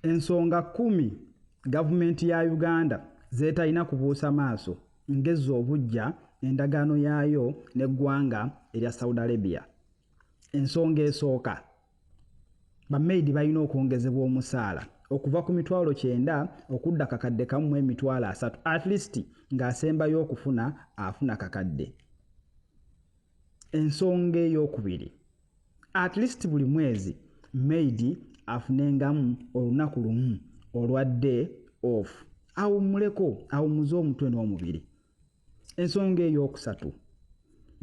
ensonga kkumi gavumenti ya uganda zeetalina kubuusa maaso ngezza obuggya endagaano yaayo n'eggwanga erya saudi arabia ensonga esooka bamaidi balina okwongezebwa omusaala okuva ku mitwalo kyenda okudda kakadde kamu mu emitwalo asatu at least ng'asembayo okufuna afuna kakadde ensonga ey'okubiri at least buli mwezi maidi afunengamu olunaku lumu olwa day off awummuleko awummuze omutwe n'omubiri ensonga ey'okusatu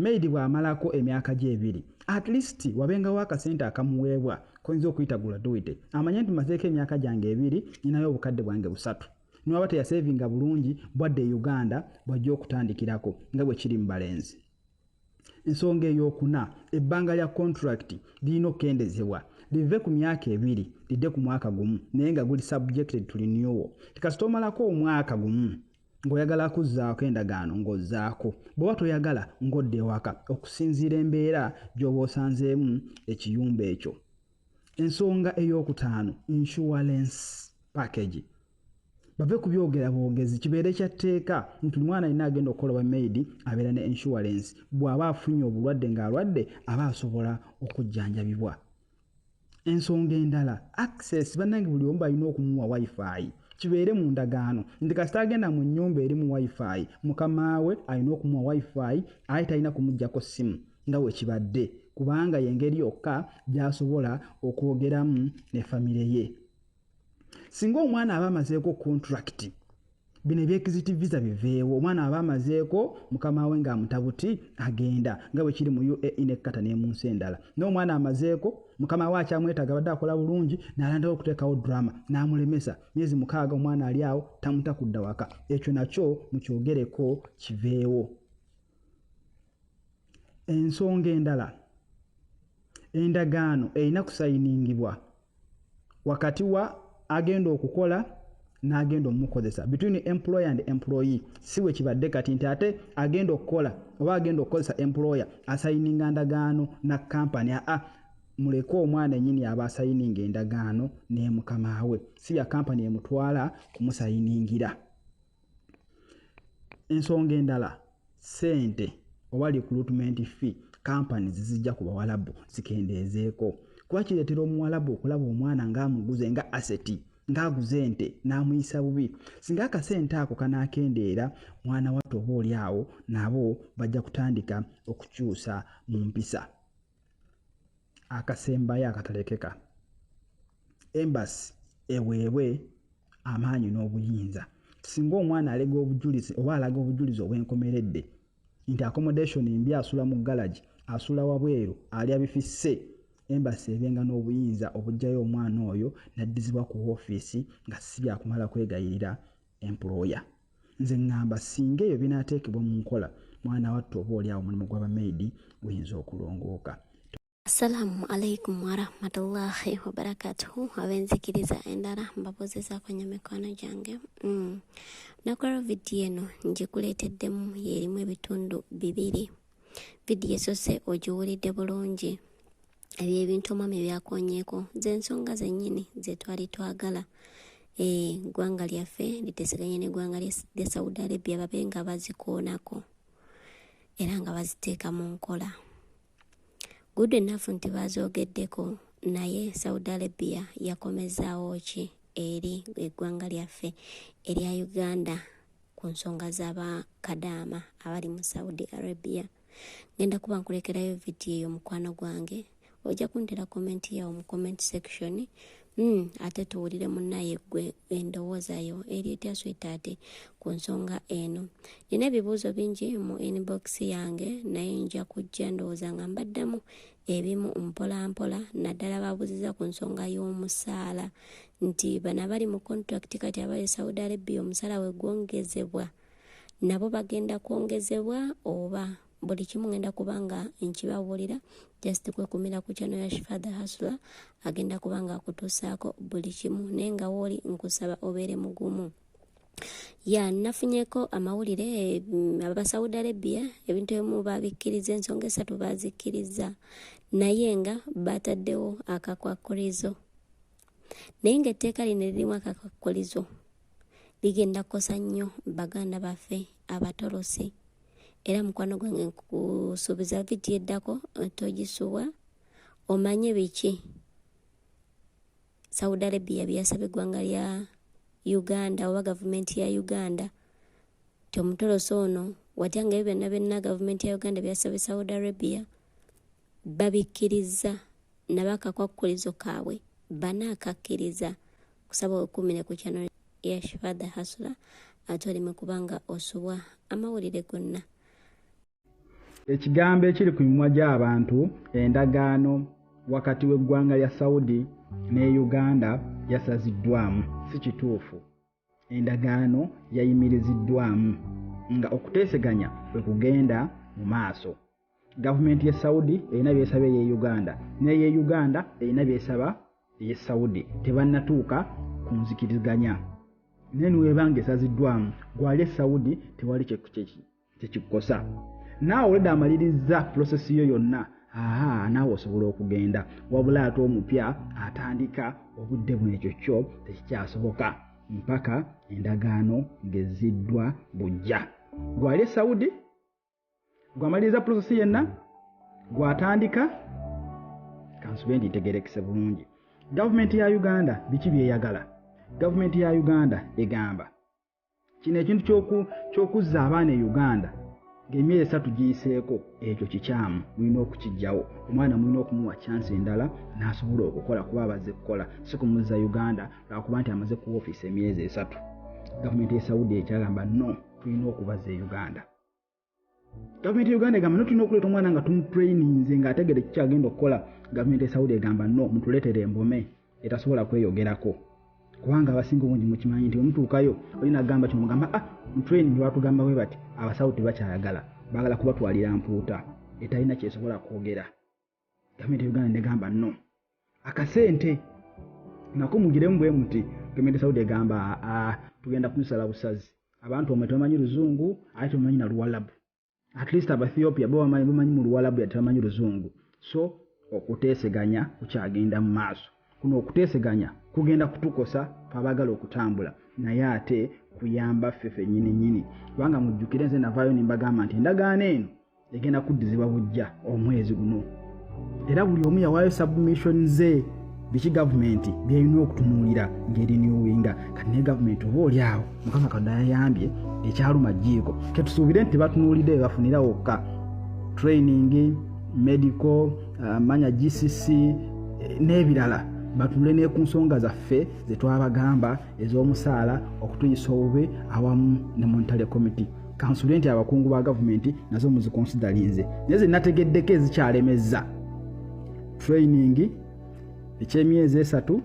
maid bw'amalako emyaka gye ebiri at least wabengawo akasente akamuweebwa koyinza okuyita guladuwite amanye nti mazeeko emyaka gyange ebiri ninayo obukadde bwange busatu niwaba teyasevinga bulungi bwadde e uganda bwajja okutandikirako nga bwe kiri mu balenzi ensonga ey'okuna ebbanga lya kontulakiti lirina okukendezebwa live ku myaka ebiri lidde ku mwaka gumu naye nga guli subjected to renewal tikasita omalako omwaka gumu ng'oyagala kuzzaako endagaano ng'ozzaako bw'oba toyagala ng'odda ewaka okusinziira embeera gy'oba osanzeemu ekiyumba ekyo ensonga ey'okutaano insurance package bave ku byogera bwogezi kibeere kya tteeka nti omwana alina agenda okukola oba maidi abeera ne insurance bw'aba afunye obulwadde ng'alwadde aba asobola okujjanjabibwa ensonga endala access bannange buli omu balina okumuwa wifi kibeere mu ndagaano nti kasita agenda mu nnyumba eri mu wifi mukama we alina okumuwa wifi aye talina kumugyako ssimu nga wekibadde kubanga yengeri yokka gyasobola okwogeramu ne famire ye singa omwana aba amazeeko kontulakiti bino ebyekiziti visa biveewo omwana aba amazeeko mukama we ng'amutabuti agenda nga bwe kiri mu uae ne kata ne mu nsi endala n'omwana amazeeko mukama we akyamwetaaga badde akola bulungi n'alandawo okuteekawo drama n'amulemesa myezi mukaaga omwana ali awo tamuta kudda waka ekyo nakyo mukyogereko kiveewo Ensonga endala, endagaano erina kusayiningibwa wakati wa agenda okukola n'agenda omukozesa between employer and employee si we kibadde kati nti ate agenda okukola oba agenda okukozesa employer asayininga ndagaano na kampani aa muleke omwana enyini aba asayininga endagaano n'emukama we si ya kampani emutwala kumusayiningira ensonga endala sente oba recruitment fee kampani zizijja ku bawalabu zikendeezeeko kuba kireetera omuwalabu okulaba omwana ng'amuguze nga aseti ng'aguze ente n'amuyisa bubi singa akasente ako kanaakendeera mwana wattu oba oli awo nabo bajja kutandika okukyusa mu mpisa akasembayo akatalekeka embasi eweebwe amaanyi n'obuyinza singa omwana alega obujulizi oba alaga obujulizi obwenkomeredde nti accommodation mbi asula mu galagi asula wabweru alya bifisse embasi ebenga n'obuyinza obugjayo omwana oyo naddizibwa ku woofiisi nga sibyakumala kwegayirira employer. Nze ngamba singa ebyo binatekebwa mu nkola mwana wattu oba oli awo mulimu gwaba maid guyinza okulongooka. Assalamu alaikum warahmatullahi wabarakatuhu abenzikiriza endala mbabuuzizaako nnyo mikwano gyange mm. nakola vidiyo eno ngikuleeteddemu yeerimu ebitundu bibiri vidiyo esose ogiwulidde bulungi ebyo ebintu omwami byakonyeeko zensonga zennyini zetwali twagala eggwanga lyaffe liteseganye n'eggwanga lya saudi arabia babe nga bazikoonako era nga baziteeka mu nkola gudu ennafu nti baazoogeddeko naye saudi arabia yakomezaawo ki eri eggwanga lyaffe erya uganda ku nsonga z'abakadaama abali mu saudi arabia ngenda kuba nkulekerayo vidiyo eyo mukwano gwange ojja kuntera komenti yawo mu comment section mm, ate tuwulire munaye gwe endowooza yo eri etya swetaate ku nsonga eno nina ebibuuzo bingi mu inbox yange naye nja kujja ndowooza nga mbaddamu ebimu mpolampola naddala babuziza ku nsonga y'omusaala nti bana bali mu contract kati abali saudi arabia omusaala wegwongezebwa nabo bagenda kwongezebwa oba buli kimu ngenda kuba nga nkibabuulira just kwekumira ku kyano ya shifadha hasula agenda kuba nga akutuusaako buli kimu naye nga wooli nkusaba obeere mugumu ya nafunyeko amawulire mm, abasaudi arabia ebintu ebimu babikkiriza ensonga esatu bazikkiriza naye nga bataddewo akakwakkulizo naye nga etteeka lino lirimu akakwakkulizo bigenda kukosa nnyo baganda baffe abatolose era mukwano gwange nkusuubiza vidiyo eddako eh, togisubwa omanye biki saudi arabia byeyasaba eggwanga lya uganda oba gavumenti ya uganda ti omutolosi ono watya nga ebyo byonna byonna gavumenti ya uganda byasaba e saudi arabia babikkirizza nabakakwakkulizo kaabwe bana akakkiriza kusaba wekumire ku kyano yashfadha hasula ate oleme kubanga osubwa amawulire gonna ekigambo ekiri ku mimwa gy'abantu endagaano wakati w'eggwanga lya saudi ne uganda yasaziddwamu si kituufu endagaano yayimiriziddwamu nga okuteeseganya kwe kugenda mu maaso gavumenti ye saudi erina byesaba eye uganda neye uganda erina byesaba eye saudi tebannatuuka ku nzikiriziganya naye niwebanga esaziddwamu gwali e saudi tewali kyekukyekimu tekikukosa naawe oleda amalirizza pulosesi yo yonna aha naawe osobola okugenda wabula ate omupya atandika obudde buno ekyo kyo tekikyasoboka mpaka endagaano ngezziddwa bujja gwali e saudi gwamaliriza pulosesi yenna gwatandika kansube ndi ntegerekese bulungi gavumenti ya uganda biki byeyagala gavumenti ya uganda egamba kino ekintu ky'okuzza abaana e uganda ng'emyezi esatu giyiseeko ekyo kikyamu mulina okukijjawo omwana mulina okumuwa kyansi endala n'asobola okukola kuba abazze kukola si kumuzza uganda lwakuba nti amaze ku ofiisi emyezi esatu gavumenti ya saudi ekyagamba no tulina okubaza e uganda gavumenti ya uganda egamba no tulina okuleeta omwana nga tumutraininze nga ategere kiki agenda okukola gavumenti esaudi egamba no mutuleetere embome etasobola kweyogerako kubanga abasinga obungi mukimanyi nti omutuukayo olina agamba kino mugamba ah mutraining batugamba bwe bati abasaudi tebakyayagala bagala kubatwalira mpuuta etalina kyesobola kwogera gavumenti yuganda negamba no akasente nako mugiremu bwe muti gavumenti saudi egamba aa tugenda kunsala busazi abantu omwe tebamanyi luzungu ate tebamanyi na luwalabu at least abaethiopia bo bamanyi mu luwalabu ya tebamanyi luzungu so okuteeseganya kukyagenda mu maaso kuno okuteeseganya kugenda kutukosa twabagala okutambula naye ate kuyamba ffe fenyini nyini kubanga mujjukire nze navaayo nembagamba nti endagaano eno egenda kuddizibwa bujja omwezi guno era buli omu yawaayo submission ze biki gavumenti byerina okutunuulira ngeri niwinga kati naye gavumenti oba oli awo mukama katonda yayambye ekyaluma jjiiko ketusuubire nti batunuulidde bebafunira wokka training medical ah, manya gcc eh, n'ebirala batule ne ku nsonga zaffe ze twabagamba ez'omusaala okutuyisa obubi awamu ne montale committee kansule nti abakungu ba gavumenti nazo muzikonsidalinze naye ze nategeddeko ezikyalemezza training ekyemyezi esatu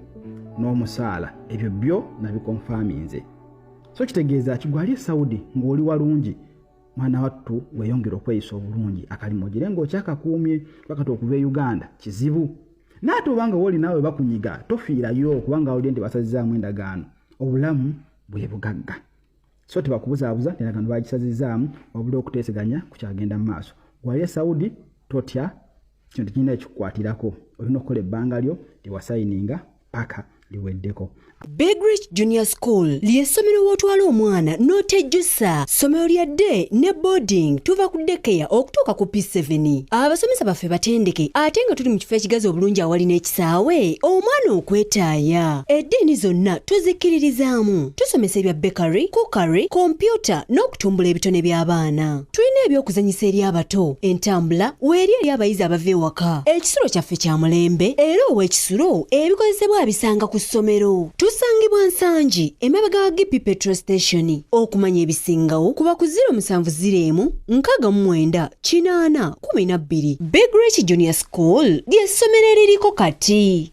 n'omusaala ebyo byo nabikonfaminze so kitegeeza kigwali esaudi ng'oli walungi mwana wattu weyongera okweyisa obulungi akalimu ogire ngaokyakakuumye bakati okuva e uganda kizibu naate obanga woli naawe bakunyiga tofiirayo kubanga olye nti basazizaamu endagaano obulamu bwe bugagga so tebakubuzaabuza endagaano bagisazizaamu wabula okuteeseganya kukyagenda mu maaso wali e saudi totya kino tekirina ekikukwatirako olina okukola ebbanga lyo lyewasayininga paka liweddeko big rich junior school ly'essomero w'otwala omwana n'otejjusa ssomero lya day ne boarding tuva ku dekeya okutuuka ku p7 abasomesa baffe batendeke ate nga tuli mu kifo ekigazi obulungi awali n'ekisaawe omwana okwetaaya eddiini zonna tuzikkiririzaamu tusomesa ebya bakery cookery kompyuta n'okutumbula ebitone by'abaana tulina ebyokuzanyisa eri abato entambula weeri eri abayizi abava ewaka ekisulo kyaffe kya mulembe era ow'ekisulo ebikozesebwa abisanga ku ssomero tusangibwa nsangi emabega wa gipi petro station okumanya ebisingawo kuba ku 0707 64 12 big rich junior school ly'essomero eririko kati